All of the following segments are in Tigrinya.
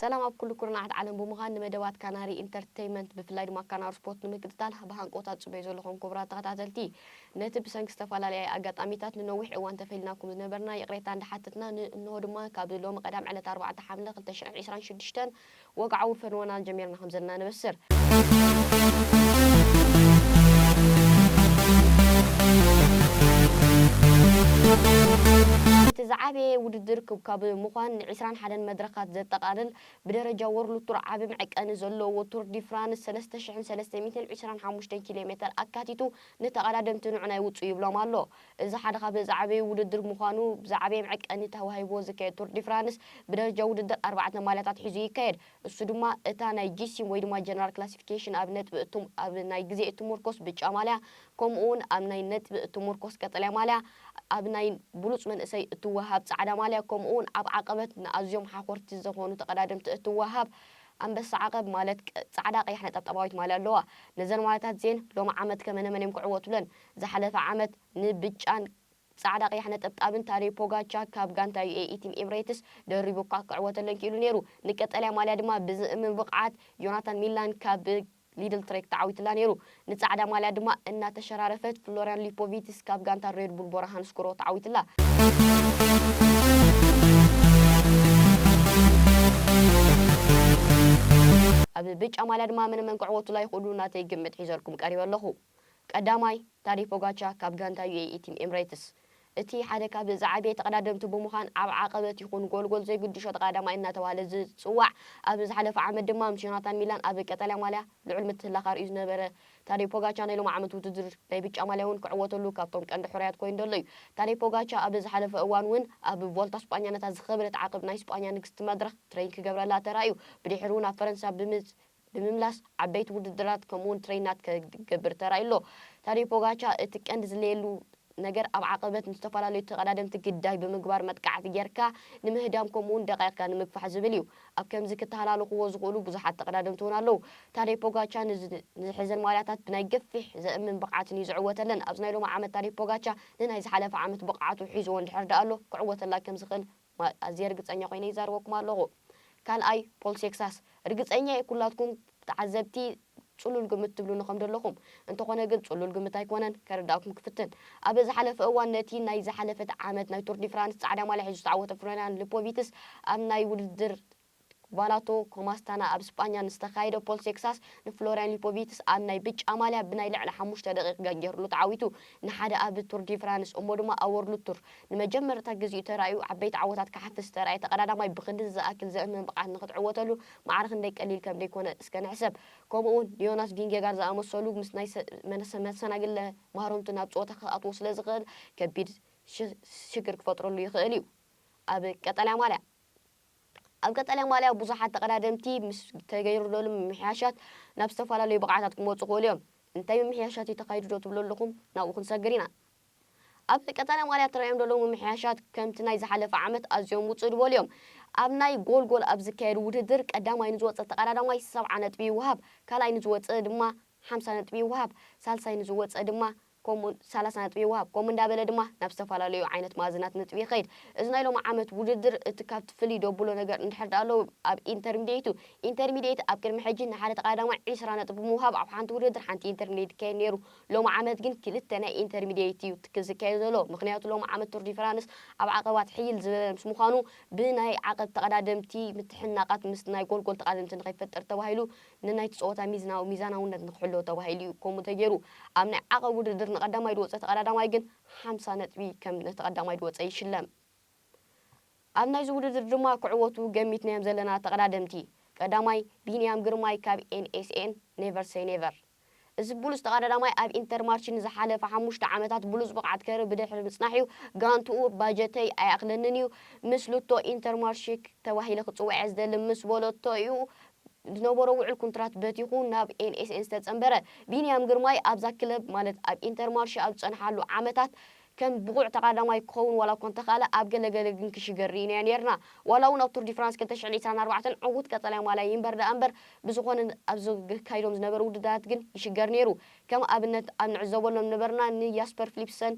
ሰላም ኣብ ኩሉ ኩርናዓት ዓለም ብምዃን ንመደባት ካናሪ ኢንተርተይመንት ብፍላይ ድማ ካናሪ ስፖርት ንምክትታል ብሃንቆውታ ትጽበዩ ዘለኹም ኩቡራት ተኸታተልቲ ነቲ ብሰንኪ ዝተፋላለያየ ኣጋጣሚታት ንነዊሕ እዋን ተፈልይናኩም ዝነበርና ይቕሬታ እንዳሓተትና ን እንሆ ድማ ካብ ሎሚ ቀዳም ዕለት ኣርባዕተ ሓምለ ክልተ ሽሕን ዒስራን ሽዱሽተን ወግዓዊ ፈንወና ጀሚርና ከምዘለና ነበስር። እቲ ዝዓበየ ውድድር ክብ ካብ ምዃን ን ዒስራን ሓደን መድረኻት ዘጠቓልል፣ ብደረጃ ዎርልድ ቱር ዓቢ መዕቀኒ ዘለዎ ቱር ዲ ፍራንስ ሰለስተ ሽሕን ሰለስተ ሚእትን ዒስራን ሓሙሽተን ኪሎ ሜተር ኣካቲቱ ንተቐዳደምቲ ንዑና ይውጽኡ ይብሎም ኣሎ። እዚ ሓደ ካብ ዝዓበዩ ውድድር ምዃኑ ብዝዓበየ መዕቀኒ ተዋሂብዎ ዝካየድ ቱር ዲ ፍራንስ ብደረጃ ውድድር ኣርባዕተ ማልያታት ሒዙ ይካየድ። እሱ ድማ እታ ናይ ጂሲም ወይ ድማ ጀነራል ክላሲፊኬሽን ኣብ ነጥቢ እትም ኣብ ናይ ግዜ እትምርኮስ ብጫ ማልያ ከምኡ'ውን ኣብ ናይ ነጥቢ እትሙርኮስ ቀጠልያ ማልያ፣ ኣብ ናይ ብሉጽ መንእሰይ እትወሃብ ጻዕዳ ማልያ፣ ከምኡ'ውን ኣብ ዓቐበት ንኣዝዮም ሓኾርቲ ዘኾኑ ተቐዳደምቲ እትወሃብ ኣንበሳ ዓቐብ ማለት ጻዕዳ ቀያሕ ነጠብጣባዊት ማልያ ኣለዋ። ነዘን ማልያታት እዚኤን ሎሚ ዓመት ከመነመን እዮም ክዕወቱለን? ዝሓለፈ ዓመት ንብጫን ጻዕዳ ቀያሕ ነጠብጣብን ታደይ ፖጋቻ ካብ ጋንታ ዩኤኢ ቲም ኤምሬትስ ደሪቡ'ኳ ክዕወተለን ክኢሉ ነይሩ። ንቀጠልያ ማልያ ድማ ብዝእምም ብቕዓት ዮናታን ሚላን ካብ ሊድል ትሬክ ተዓዊቱላ ነይሩ። ንጻዕዳ ማልያ ድማ እናተሸራረፈት ፍሎርያን ሊፖቪትስ ካብ ጋንታ ሬድ ቡል ቦራ ሃንስክሮ ተዓዊቱላ። ኣብ ብጫ ማልያ ድማ መነመን ክዕወቱላ ይኽእሉ ናተይ ግምት ሒዘልኩም ቀሪበ ኣለኹ። ቀዳማይ፣ ታዴይ ፖጋቻ ካብ ጋንታ ዩኤኢ ቲም ኤምሬትስ። እቲ ሓደ ካብ ዝዓበየ ተቐዳደምቲ ብምዃን ኣብ ዓቐበት ይኹን ጎልጎል ዘይግዱ ሸጥ ቐዳማይ እናተባህለ ዝጽዋዕ ኣብዚ ዝሓለፈ ዓመት ድማ ምስ ዮናታን ሚላን ኣብ ቀጠልያ ማልያ ልዑል ምትህልላኽ ኣርእዩ ዝነበረ ታደይ ፖጋቻ ናይ ሎሚ ዓመት ውድድር ናይ ብጫ ማልያ'ውን ክዕወተሉ ካብቶም ቀንዲ ሕሩያት ኮይኑ ደሎ'ዩ። ታደይ ፖጋቻ ኣብ ዝሓለፈ እዋን'ውን ኣብ ቮልታ ስጳኛ ነታ ዝኸበደት ዓቕብ ናይ ስጳኛ ንግስቲ መድረኽ ትረይን ክገብረላ ተራእዩ ብድሒሩ'ውን ኣብ ፈረንሳ ብምጽ ብምምላስ ዓበይቲ ውድድራት ከምኡ'ውን ትሬይናት ክገብር ተራእዩ ኣሎ። ታዴው ፖጋቻ እቲ ቀንዲ ዝለየሉ ነገር ኣብ ዓቐበት ንዝተፈላለዩ ተቐዳደምቲ ግዳይ ብምግባር መጥቃዕቲ ጌርካ ንምህዳም ከምኡ'ውን ደቒቕካ ንምግፋሕ ዝብል እዩ። ኣብ ከምዚ ክተሃላለኹዎ ዝኽእሉ ብዙሓት ተቐዳደምቲ እውን ኣለዉ። ታዴው ፖጋቻ ንዝሕዘን ማልያታት ብናይ ገፊሕ ዘእምን ብቕዓትን እዩ ዝዕወተለን። ኣብዚ ናይ ሎሚ ዓመት ታዴው ፖጋቻ ንናይ ዝሓለፈ ዓመት ብቕዓቱ ሒዙዎ እንድሕር ደኣሎ ክዕወተላ ከምዝኽእል ኣዝየ ርግጸኛ ኮይነ ይዛረበኩም ኣለኹ። ካልኣይ ፖል ሴክሳስ ርግጸኛ እየ ኩላትኩም ተዓዘብቲ ጽሉል ግምት ትብሉኒ ከም ደለኹም እንተኾነ ግን ጽሉል ግምት ኣይኮነን ከረድኣኩም ክፍትን ኣብ ዝሓለፈ እዋን ነቲ ናይ ዝሓለፈት ዓመት ናይ ቱር ዲ ፍራንስ ጻዕዳ ማልያ ሒዙ ዝተዓወተ ፍሎርያን ልፖቪትስ ኣብ ናይ ውድድር ባላቶ ኮማስታና ኣብ ስጳኛ ንዝተኻየደ ፖል ሴክሳስ ንፍሎርያን ሊፖቪትስ ኣብ ናይ ብጫ ማልያ ብናይ ልዕሊ ሓሙሽተ ደቒቕ ገንጊርሉ ተዓዊቱ ንሓደ ኣብ ቱር ዲ ፍራንስ እሞ ድማ ኣብ ዎርልድ ቱር ንመጀመርታ ግዜኡ ተራእዩ ዓበይቲ ዓወታት ክሓፍስ ዝተራእየ ተቐዳዳማይ ብኽንድዚ ዝኣክል ዘእምን ብቕዓት ንኽትዕወተሉ ማዕረ ክንደይ ቀሊል ከም ደይኮነ እስከ ንሕሰብ ከምኡ ውን ንዮናስ ቪንጌጋር ዝኣመሰሉ ምስ ናይ መሰናግለ ማህረምቱ ናብ ጸወታ ክኣትዎ ስለ ዝኽእል ከቢድ ሽግር ክፈጥረሉ ይኽእል እዩ ኣብ ቀጠልያ ማልያ። ኣብ ቀጠልያ ማልያ ብዙሓት ተቐዳደምቲ ምስ ተገይርዶልም ምምሕያሻት ናብ ዝተፈላለዩ ብቕዓታት ክመጹ ይኽእሉ እዮም። እንታይ ምምሕያሻት እዩ ተኻይዱዶ ትብሉ ኣለኹም? ናብኡ ክንሰግር ኢና። ኣብ ቀጠልያ ማልያ ተራእዮም ደለዉ ምምሕያሻት ከምቲ ናይ ዝሓለፈ ዓመት ኣዝዮም ውጽእ ድበሉ እዮም። ኣብ ናይ ጎልጎል ኣብ ዝካየድ ውድድር ቀዳማይ ንዝወጸ ተቐዳዳማይ ሰብዓ ነጥቢ ይወሃብ፣ ካልኣይ ንዝወጸ ድማ ሓምሳ ነጥቢ ይወሃብ፣ ሳልሳይ ንዝወጸ ድማ ከምኡውን ሰላሳ ነጥቢ ይወሃብ። ከምኡ እንዳበለ ድማ ናብ ዝተፈላለዩ ዓይነት መኣዝናት ነጥቢ ይኸይድ። እዚ ናይ ሎሚ ዓመት ውድድር እቲ ካብቲ ፍልይ ደብሎ ነገር እንድሕር ድኣ ኣለዉ ኣብ ኢንተርሚድየት እዩ። ኢንተርሚድየት ኣብ ቅድሚ ሕጂ ንሓደ ተቓዳማይ ዒስራ ነጥቢ ብምውሃብ ኣብ ሓንቲ ውድድር ሓንቲ ኢንተርሚድየት ይካየድ ነይሩ። ሎሚ ዓመት ግን ክልተ ናይ ኢንተርሚድየት እዩ ትክ ዝካየድ ዘሎ። ምኽንያቱ ሎሚ ዓመት ቱር ዲ ፍራንስ ኣብ ዓቐባት ሕይል ዝበለ ምስ ምዃኑ ብናይ ዓቐብ ተቐዳደምቲ ምትሕንናቓት ምስ ናይ ጎልጎል ተቓደምቲ ንኸይፈጠር ተባሂሉ ንናይቲ ጸወታ ሚዝናዊ ሚዛናውነት ንክሕሎ ተባሂሉ እዩ ከምኡ ተገይሩ። ኣብ ናይ ዓቐብ ውድድር ንቀዳማይ ድወጸ ተቐዳዳማይ ግን ሓምሳ ነጥቢ ከም ንተቐዳማይ ድወጸ ይሽለም። ኣብ ናይዚ ውድድር ድማ ክዕወቱ ገሚትናዮም ዘለና ተቐዳደምቲ፣ ቀዳማይ፣ ቢንያም ግርማይ ካብ NSN፣ Never Say Never፣ እዚ ብሉጽ ተቐዳዳማይ ኣብ ኢንተርማርቺ ንዝሓለፈ ሓሙሽተ ዓመታት ብሉጽ ብቕዓት ከርኢ ብድሕሪ ምጽናሕ'ዩ። ጋንትኡ ባጀተይ ኣይኣኽለንን'ዩ፣ ምስ ሉቶ ኢንተርማርቺክ ተባሂለ ክጽውዕ'የ ዝደሊ ምስ በለቶ'ዩ ዝነበሮ ውዕል ኩንትራት በቲኹ ናብ ኤልኤስኤን ዝተጸንበረ። ቢንያም ግርማይ ኣብዛ ክለብ ማለት ኣብ ኢንተርማርቺ ኣብ ዝጸንሓሉ ዓመታት፣ ከም ብቑዕ ተቓዳማይ ክኸውን ዋላ'ኳ እንተኽኣለ፣ ኣብ ገለ ገለ ግን ክሽገር ርኢናዮ ኔርና። ዋላ'ውን ኣብ ቱር ዲ ፍራንስ ክልተ ሽሕን ዒስራን ኣርባዕተን ዕዉት ቀጠልያ ማልያ ይንበር ደኣ'ምበር፣ ብዝኾነ ኣብ ዘካይዶም ዝነበሩ ውድድራት ግን ይሽገር ኔሩ። ከም ኣብነት ኣብ ንዕዘበሎም ነበርና ን ያስፐር ፍሊፕሰን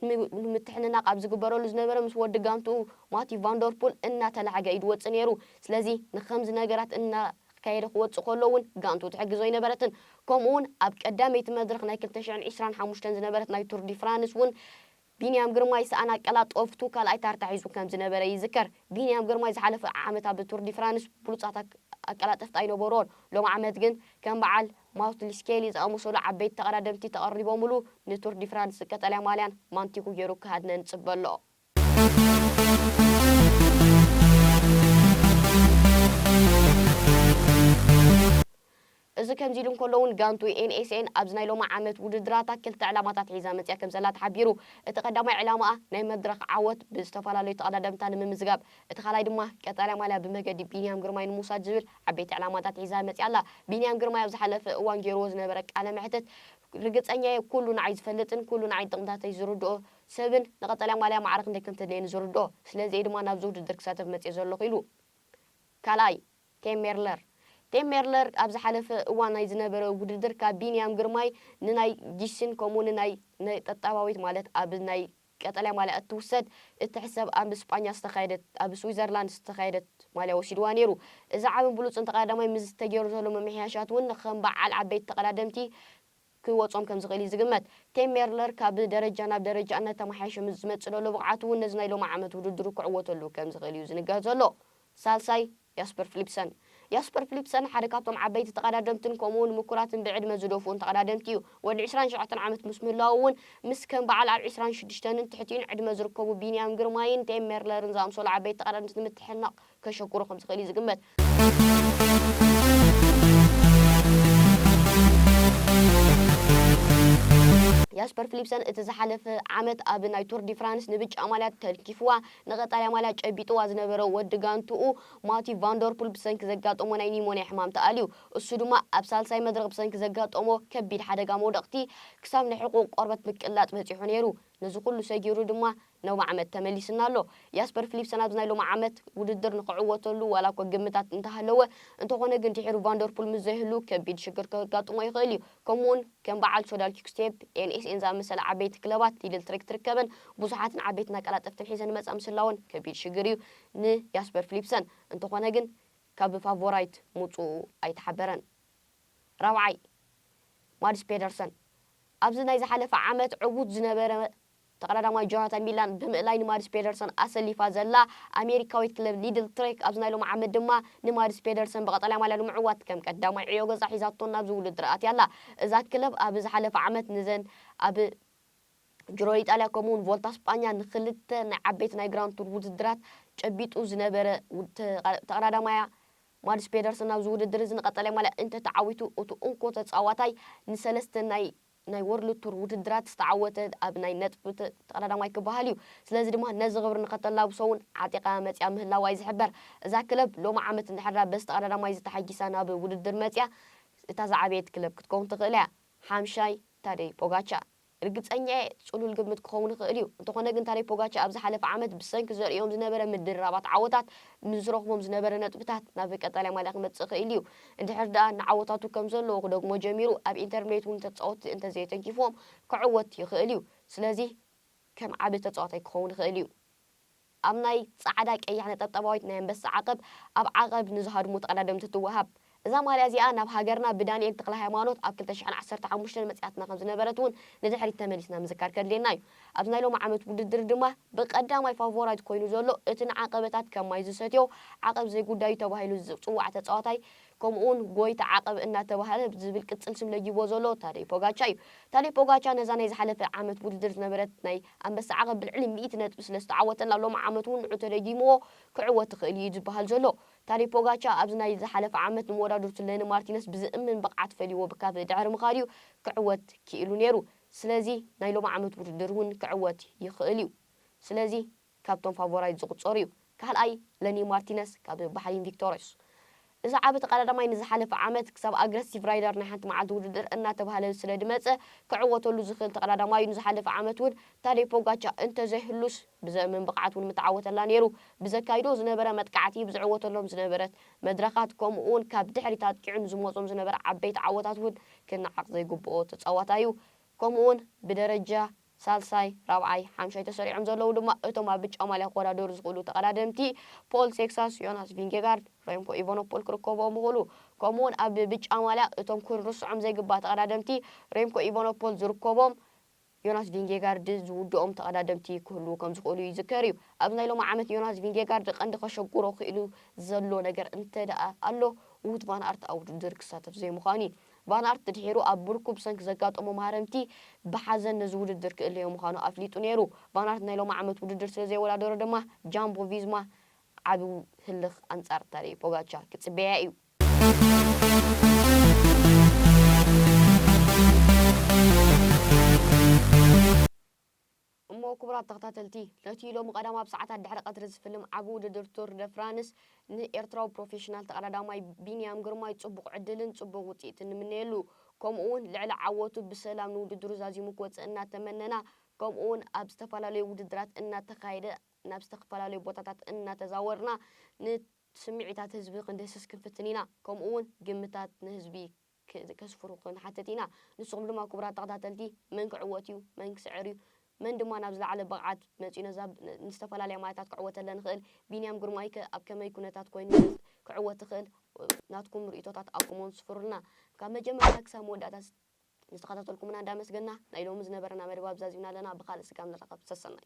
ን ምትሕንናቕ ኣብ ዝግበረሉ ዝነበረ ምስ ወዲ ጋንትኡ ማቲው ቫንደርፑል እናተላዕገ እዩ ዝወጽእ ኔሩ። ስለዚ ንኸምዚ ነገራት እና። ክትካየደ ክወጽእ ከሎ እውን ጋንቱ ትሕግዞ ኣይነበረትን። ከምኡ እውን ኣብ ቀዳመይቲ መድረኽ ናይ ክልተ ሽሕን ዕስራን ሓሙሽተን ዝነበረት ናይ ቱር ዲ ፍራንስ እውን ቢንያም ግርማይ ሰኣን ኣቀላጠፍቱ ካልኣይ ታርታ ሒዙ ከም ዝነበረ ይዝከር። ቢንያም ግርማይ ዝሓለፈ ዓመት ኣብ ቱር ዲ ፍራንስ ብሉጻት ኣቀላጠፍቲ ኣይነበሩዎን። ሎሚ ዓመት ግን ከም በዓል ማውትሊ ስኬሊ ዝኣመሰሉ ዓበይቲ ተቐዳደምቲ ተቐሪቦምሉ ንቱር ዲ ፍራንስ ቀጠልያ ማልያን ማንቲኩ ገይሩ ክሃድነ ንጽበ ኣሎ። እዚ ከምዚ ኢሉ እንከሎ'ውን ጋንቱ NSN ኣብዚ ናይ ሎሚ ዓመት ውድድራታ ክልተ ዕላማታት ሒዛ መጺኣ ከምዘላ ተሓቢሩ። እቲ ቀዳማይ ዕላማኣ ናይ መድረኽ ዓወት ብዝተፈላለዩ ተቐዳደምታ ንምምዝጋብ፣ እቲ ካልኣይ ድማ ቀጠልያ ማልያ ብመገዲ ቢንያም ግርማይ ንምውሳድ ዝብል ዓበይቲ ዕላማታት ሒዛ መጺኣ ኣላ። ቢንያም ግርማይ ኣብ ዝሓለፈ እዋን ገይርዎ ዝነበረ ቃለ መሕትት ርግጸኛ'የ ኩሉ ንዓይ ዝፈልጥን ኩሉ ንዓይ ጥቕምታተይ ዝርድኦ ሰብን፣ ንቀጠልያ ማልያ ማዕረ ክንደይ ከም ተድልየኒ ዝርድኦ። ስለዚ እየ ድማ ናብዚ ውድድር ክሳተፍ መጺኤ ዘለኹ ኢሉ። ካልኣይ፣ ቴም ሜርለር። ቴም ሜርለር ኣብ ዝሓለፈ እዋን ናይ ዝነበረ ውድድር ካብ ቢንያም ግርማይ ንናይ ጊስን ከምኡ ንናይ ነጠጣባዊት ማለት ኣብ ናይ ቀጠልያ ማልያ እትውሰድ እትሕሰብ ኣብ ስጳኛ ዝተኻየደት ኣብ ስዊዘርላንድ ዝተኻየደት ማልያ ወሲድዋ ነይሩ። እዚ ዓብን ብሉጽን ተቐዳዳማይ ምስዚ ተገይሩ ዘሎ ምምሕያሻት እውን ከም በዓል ዓበይቲ ተቐዳደምቲ ክወጾም ከም ዝኽእል እዩ ዝግመት። ቴም ሜርለር ካብ ደረጃ ናብ ደረጃ እናተመሓየሸ ምስ ዝመጽእ ዘሎ ብቕዓቱ እውን ነዚ ናይ ሎሚ ዓመት ውድድሩ ክዕወተሉ ከም ዝኽእል እዩ ዝንገር ዘሎ። ሳልሳይ፣ ያስፐር ፍሊፕሰን። ያስፐር ፍሊፕሰን ሓደ ካብቶም ዓበይቲ ተቐዳደምትን ከምኡ እውን ምኩራትን ብዕድመ ዝደፍኡን ተቐዳደምቲ እዩ። ወዲ ዕስራን ሸውዓተን ዓመት ምስ ምህላዉ እውን ምስ ከም በዓል ኣብ ዕስራን ሽዱሽተንን ትሕቲኡን ዕድመ ዝርከቡ ቢንያም ግርማይን ቴም ሜርለርን ዝኣምሰሉ ዓበይቲ ተቐዳደምቲ ንምትሕንናቕ ከሸግሮ ከም ዝኽእል እዩ ዝግመት። ያስፐር ፍሊፕሰን እቲ ዝሓለፈ ዓመት ኣብ ናይ ቱር ዲ ፍራንስ ንብጫ ማልያ ተልኪፍዋ ንቐጣልያ ማልያ ጨቢጥዋ ዝነበረ ወዲ ጋንትኡ ማቲው ቫንደርፑል ብሰንኪ ዘጋጠሞ ናይ ኒሞንያ ሕማም ተኣልዩ። እሱ ድማ ኣብ ሳልሳይ መድረኽ ብሰንኪ ዘጋጠሞ ከቢድ ሓደጋ መውደቕቲ ክሳብ ናይ ሕቑኡ ቆርበት ምቅላጥ በጺሑ ነይሩ። ነዚ ኩሉ ሰጊሩ ድማ ሎሚ ዓመት ተመሊሱና ኣሎ። ያስፐር ፍሊፕሰን ኣብዚ ናይ ሎሚ ዓመት ውድድር ንኽዕወተሉ ዋላ'ኳ ግምታት እንተሃለወ፣ እንተኾነ ግን ድሒሩ ቫን ደር ፑል ምስ ዘይህሉ ከቢድ ሽግር ከጋጥሞ ይኽእል እዩ። ከምኡ'ውን ከም በዓል ሶዳል ኪክስቴፕ፣ ኤንኤስኤን ዝኣመሰላ ዓበይቲ ክለባት ሊድል ትሬክ ትርከበን ብዙሓትን ዓበይትን ኣቀላጠፍትን ሒዘን ይመጻ ምስላወን ከቢድ ሽግር እዩ ንያስፐር ፍሊፕሰን። እንተኾነ ግን ካብ ፋቮራይት ምውጽኡ ኣይተሓበረን። ራብዓይ፣ ማድስ ፔደርሰን ኣብዚ ናይ ዝሓለፈ ዓመት ዕዉት ዝነበረ ተቐዳዳማይ ጆናታን ሚላን ብምእላይ ንማድስ ፔደርሰን ኣሰሊፋ ዘላ ኣሜሪካዊት ክለብ ሊድል ትሬክ ኣብዚ ናይ ሎሚ ዓመት ድማ ንማድስ ፔደርሰን ብቐጠልያ ማልያ ንምዕዋት ከም ቀዳማይ ዕዮ ገዛ ሒዛቶ ናብዚ ውድድር ኣትያ ኣላ። እዛ ክለብ ኣብ ዝሓለፈ ዓመት ንዘን ኣብ ጅሮ ኢጣልያ ከምኡ'ውን ቮልታ ስጳኛ ንኽልተ ናይ ዓበይቲ ናይ ግራንድ ቱር ውድድራት ጨቢጡ ዝነበረ ተቐዳዳማያ ማድስ ፔደርሰን ናብዚ ውድድር እዚ ንቐጠልያ ማልያ እንተተዓዊቱ እቲ እንኮ ተጻዋታይ ንሰለስተ ናይ ናይ ወርልድ ቱር ውድድራት ዝተዓወተ ኣብ ናይ ነጥቢ ቀዳዳማይ ክበሃል እዩ። ስለዚ ድማ ነዚ ክብሪ ንኸተላብሶ እውን ዓጢቓ መፂኣ ምህላዋ እዩ ዝሕበር። እዛ ክለብ ሎሚ ዓመት እንድሕር በዝቲ ቀዳዳማይ ዝተሓጊሳ ናብ ውድድር መፂኣ እታ ዝዓበየት ክለብ ክትከውን ትኽእል እያ። ሓምሻይ፣ ታደይ ፖጋቻ። ርግፀኛ እየ ፅሉል ግምት ክኸውን ይኽእል እዩ። እንተኾነ ግን ታደይ ፖጋቻ ኣብ ዝሓለፈ ዓመት ብሰንኪ ዘርእዮም ዝነበረ ምድርራባት ዓወታት ንዝረኽቦም ዝነበረ ነጥብታት ናብ ቀጣልያ ማልያ ክመፅእ ክኢሉ እዩ። እንድሕር ደኣ ንዓወታቱ ከም ዘለዎ ክደግሞ ጀሚሩ፣ ኣብ ኢንተርሚየት እውን ተጻወትቲ እንተ ዘየተንኪፍዎም ክዕወት ይኽእል እዩ። ስለዚ ከም ዓቢ ተጻዋታይ ክኸውን ይኽእል እዩ። ኣብ ናይ ጻዕዳ ቀያሕ ነጠብጣባዊት ናይ ኣንበሳ ዓቐብ ኣብ ዓቐብ ንዝሃድሙ ተቐዳደምቲ ትወሃብ። እዛ ማልያ እዚኣ ናብ ሃገርና ብዳንኤል ተክለሃይማኖት ኣብ ክልተ ሽሕን ዓሰርተ ሓሙሽተን መጺኣትና ከም ዝነበረት እውን ንድሕሪት ተመሊስና ምዝካር ከድልየና እዩ። ኣብዚ ናይ ሎሚ ዓመት ውድድር ድማ ብቀዳማይ ፋቮራይት ኮይኑ ዘሎ እቲ ንዓቐበታት ከም ማይ ዝሰትዮ ዓቐብ ዘይጉዳዩ ተባሂሉ ዝጽዋዕ ተጻዋታይ ከምኡ ውን ጎይታ ዓቐብ እናተባህለ ዝብል ቅጽል ስም ለጊብዎ ዘሎ ታደይ ፖጋቻ እዩ። ታደይ ፖጋቻ ነዛ ናይ ዝሓለፈ ዓመት ውድድር ዝነበረት ናይ ኣንበሳ ዓቐብ ብልዕሊ ሚእቲ ነጥቢ ስለ ዝተዓወተላ ሎሚ ዓመት ውን ንዑ ተደጊምዎ ክዕወት ይኽእል እዩ እዩ ዝበሃል ዘሎ። ታደይ ፖጋቻ ኣብዚ ናይ ዝሓለፈ ዓመት ንመወዳድርቱ ለኒ ማርቲነስ ብዘእምን ብቕዓት ፈልይዎ ብካብ ድሕሪ ምኻድ እዩ ክዕወት ክኢሉ ነይሩ። ስለዚ ናይ ሎሚ ዓመት ውድድር ውን ክዕወት ይኽእል ዩ ስለዚ ካብቶም ፋቮራይት ዝቑፀር ዩ። ካልኣይ ለኒ ማርቲነስ ካብ ባሕሪን ቪክቶርዮስ እዚ ዓቢ ተቐዳዳማይ ንዝሓለፈ ዓመት ክሳብ ኣግረሲቭ ራይደር ናይ ሓንቲ መዓልቲ ውድድር እናተብሃለ ስለ ድመፀ ክዕወተሉ ዝኽእል ተቐዳዳማይ ዩ ንዝሓለፈ ዓመት ውን ታደይ ፖጋቻ እንተዘይህሉስ ብዘእምን ብቕዓት ውን ምተዓወተላ ነይሩ ብዘካይዶ ዝነበረ መጥቃዕቲ ብዝዕወተሎም ዝነበረት መድረኻት ከምኡ ውን ካብ ድሕሪት ኣጥቂዑ ንዝመፆም ዝነበረ ዓበይቲ ዓወታት ውን ክነዓቕ ዘይግብኦ ተጻዋታይ'ዩ። ከምኡ'ውን ብደረጃ ሳልሳይ፣ ራብዓይ፣ ሓምሻይ ተሰሪዖም ዘለዉ ድማ እቶም ኣብ ብጫ ማልያ ክወዳደሩ ዝኽእሉ ተቐዳደምቲ ፖል ሴክሳስ፣ ዮናስ ቪንጌጋርድ፣ ረምኮ ኢቫኖፖል ክርከብዎም ይኽእሉ። ከምኡ'ውን ኣብ ብጫ ማልያ እቶም ክንርስዖም ዘይግባእ ተቐዳደምቲ ረምኮ ኢቫኖፖል ዝርከቦም ዮናስ ቪንጌጋርድ ዝውድኦም ተቐዳደምቲ ክህልዉ ከም ዝኽእሉ ይዝከር እዩ። ኣብዚ ናይ ሎሚ ዓመት ዮናስ ቪንጌጋርድ ቀንዲ ከሸግሮ ክኢሉ ዘሎ ነገር እንተድኣ ኣሎ ዉት ቫን ኣርት ኣብ ውድድር ክሳተፍ ዘይምዃኑ እዩ። ቫን ኣርት ድሒሩ ኣብ ብርኩ ብሰንኪ ዘጋጠሞ ማህረምቲ ብሓዘን ነዚ ውድድር ክእለዮ ምዃኑ ኣፍሊጡ ነይሩ። ቫን ኣርት ናይ ሎሚ ዓመት ውድድር ስለ ዘይወዳደሮ ድማ ጃምቦ ቪዝማ ዓቢ ህልኽ ኣንጻር ታደይ ፖጋቻ ክጽበያ እዩ። እሞ ክቡራት ተኸታተልቲ ነቲ ሎሚ ቀዳም ኣብ ሰዓታት ድሕሪ ቀትሪ ዝፍልም ዓቢ ውድድር ቱር ደ ፍራንስ ንኤርትራዊ ፕሮፌሽናል ተቐዳዳማይ ቢንያም ግርማይ ጽቡቕ ዕድልን ጽቡቕ ውጽኢትን ንምነየሉ ከምኡ'ውን ልዕሊ ዓወቱ ብሰላም ንውድድሩ ዛዚሙ ክወጽእ እናተመነና ከምኡ'ውን ኣብ ዝተፈላለዩ ውድድራት እናተኻየደ ናብ ዝተፈላለዩ ቦታታት እናተዛወርና ን ስምዒታት ህዝቢ ክንድህስስ ክንፍትን ኢና፣ ከምኡ ውን ግምታት ንህዝቢ ከስፍሩ ክንሓትት ኢና። ንስኹም ድማ ክቡራት ተኸታተልቲ መን ክዕወት ዩ? መን ክስዕር ዩ? መን ድማ ናብ ዝለዓለ ብቕዓት መጺኡ ነዛ ንዝተፈላለያ ማያታት ከዕወተለን ይኽእል? ቢንያም ግርማይ ከ ኣብ ከመይ ኩነታት ኮይኑ ዩ ክዕወት ይኽእል? ናትኩም ርኢቶታት ኣኩም ውን ስፍሩልና። ካብ መጀመርታ ክሳብ መወዳእታ ዝተኸታተልኩምና እንዳመስገና ናይ ሎሚ ዝነበረና መደብ ኣብዛ ኣዚምና ኣለና። ብኻልእ ስጋብ ንራኸብ ሰሰናዩ።